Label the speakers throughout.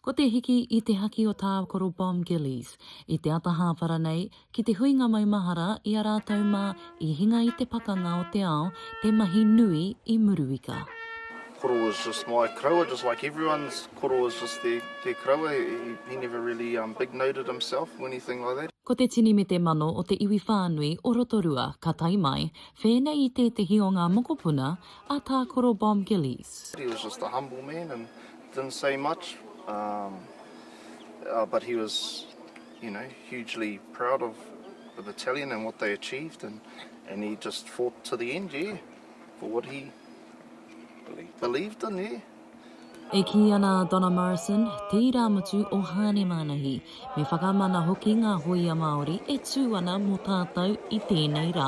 Speaker 1: Ko te hiki i te haki o Tākoro Bomb Gillies i te ata hāpara nei ki te huinga maumahara i a rātou mā i hinga i te pakanga o te ao te mahi nui i Muruika. Koro was
Speaker 2: just my koroua, just like everyone's koro was just their, their koroua. He, he never really um, big noted himself or anything like that. Ko te tini me te mano
Speaker 1: o te iwi whānui o Rotorua ka tae mai, whēnei i tētehi o ngā mokopuna a Tākoro Bob Gillies. He was just a humble
Speaker 2: man and didn't say much um uh but he was you know hugely proud of the battalion and what they achieved and and he just fought to the end yeah for what he believed in yeah. E kī
Speaker 1: ana a Donna Morrison, te irāmutu o Hāne Mānahi, me whakamana hoki ngā hōia Māori e tū ana mō tātou i tēnei rā.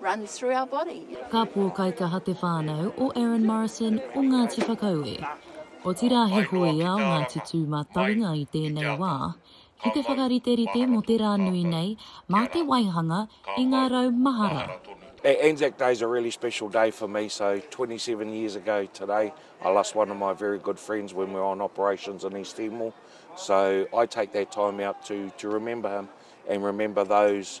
Speaker 3: runs through our body. Ka pōkaikaha
Speaker 1: te whānau o Aaron Morrison o Ngāti Whakaue, otirā he hōia o Ngāti Tūmatawinga i tēnei wā, ki te whakariterite mō te rā nui nei mā te waihanga i ngā rau mahara. Anzac Day
Speaker 4: is a really special day for me, so 27 years ago today I lost one of my very good friends when we were on operations in East Timor, so I take that time out to, to remember him and remember those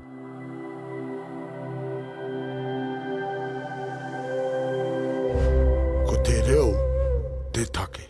Speaker 5: Ko te reo te take.